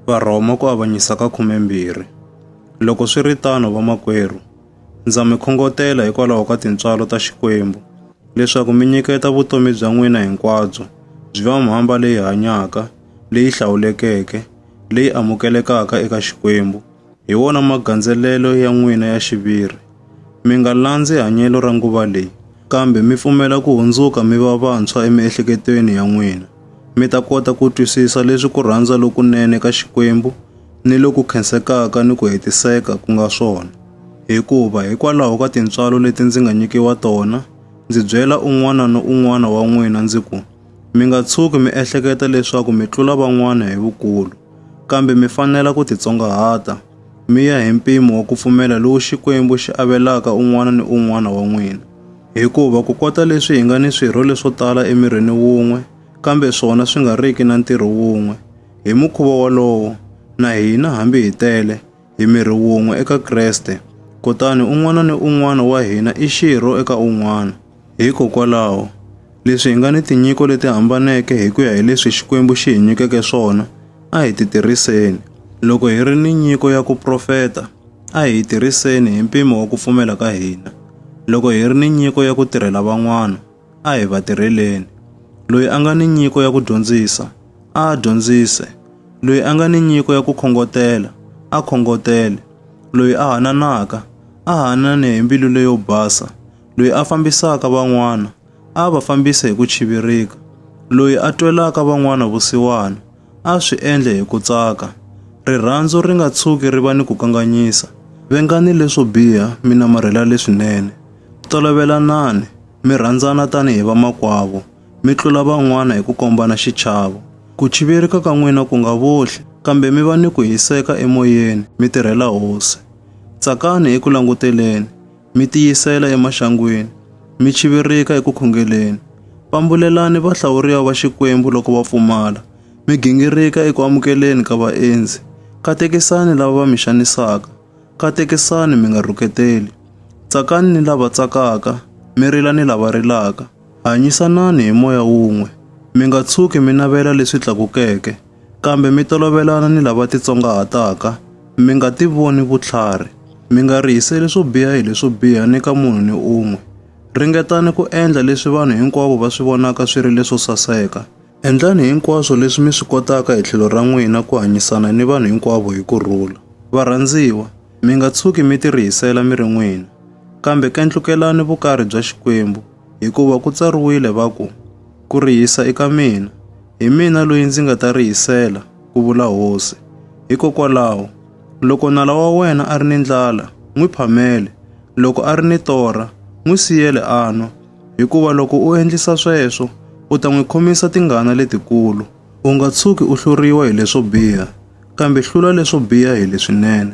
Varhoma ku avanyisa ka khumembirhi. Loko swi ri tano vamakwerhu, ndza mi khongotela hikwalaho ka tintswalo ta Xikwembu leswaku mi nyiketa vutomi bya n'wina hinkwabyo byi va mhamba leyi hanyaka, leyi hlawulekeke, leyi amukelekaka eka Xikwembu, hi wona magandzelelo ya n'wina ya xiviri. Mi nga landzi hanyelo ra nguva leyi, kambe mi pfumela ku hundzuka mi va vantshwa emiehleketweni ya n'wina, mi ta kota ku twisisa leswi ku rhandza lokunene ka Xikwembu ni loku khensekaka ni ku hetiseka ku nga swona. Hikuva hikwalaho ka tintswalo leti ndzi nga nyikiwa tona, ndzi byela un'wana ni un'wana wa n'wina ndzi ku, Mi nga tshuki mi ehleketa leswaku mi tlula van'wana hi vukulu. Kambe mi fanela ku titsongahata, mi ya hi mpimo wa ku pfumela lowu Xikwembu xi avelaka un'wana ni un'wana wa n'wina. Hikuva ku kota leswi hi nga ni swirho leswo tala emirini wun'we, kambe swona swi nga riki na ntirho wun'we, hi mukhuva wolowo, na hina hambi hi tele, Hi miri wun'we eka Kreste, kutani un'wana ni un'wana wa hina i xirho eka un'wana. Hikokwalaho, leswi hi nga ni tinyiko leti hambaneke hi ku ya hi leswi Xikwembu xi hi nyikeke swona, a hi ti tirhiseni. Loko hi ri ni nyiko ya ku profeta, a hi yi tirhiseni hi mpimo wa ku pfumela ka hina. Loko hi ri ni nyiko ya ku tirhela van'wana, A hi va tirheleni. Loyi a nga ni nyiko ya ku dyondzisa, a a dyondzise. Loyi a nga ni nyiko ya ku khongotela, a khongotele. Loyi a hananaka, a hanane hi mbilu leyo basa. Loyi a fambisaka van'wana, a va fambise hi ku chivirika. Loyi a twelaka van'wana vusiwana, A swi endle hi ku tsaka. Rirhandzu ri nga tshuki ri va ni ku kanganyisa. Vengani leswo biha, mi namarhela leswinene. Tolovelanani, mi rhandzana tanihi vamakwavo, mi tlula van'wana hi ku kombana xichavo. Ku chivirika ka n'wina ku nga vohli, kambe mi va ni ku hiseka emoyeni, mi tirhela Hosi. Tsakani eku languteleni. mi tiyisela emaxangwini, mi chivirika eku khongeleni. Pambulelani vahlawuriwa va Xikwembu loko va pfumala, mi gingirika eku amukeleni ka vaendzi. Katekisani lava va mi xanisaka, katekisani mi nga rhuketeli. Tsakani ni lava tsakaka, mi rila ni lava rilaka. Hanyisanani hi moya wun'we, mi nga tshuki mi navela leswi tlakukeke. Kambe mi tolovelana ni lava titsongahataka, mi nga ti voni vutlhari. Mi nga rihiseli swo biha hi leswo biha ni ka munhu ni un'we. Ringetani ku endla leswi vanhu hinkwavo va swi vonaka swi ri leswo saseka. Endlani hinkwaswo leswi mi swi kotaka hi tlhelo ra n'wina ku hanyisana ni vanhu hinkwavo hi ku rhula. Varhandziwa, mi nga tshuki mi tirihisela mi ri n'wina, kambe kendlukelani vukarhi bya Xikwembu. Hikuva ku tsariwile va ku, Ku rihisa i ka mina, hi mina loyi ndzi nga ta rihisela, ku vula hosi. Hikokwalaho, loko nala wa wena a ri ni ndlala, n'wi phamele, loko a ri ni torha, n'wi siyele a nwa, hikuva loko u endlisa sweswo, u ta n'wi khomisa tingana letikulu. U nga tshuki u hluriwa hi leswo biha, kambe hlula leswo biha hi leswinene.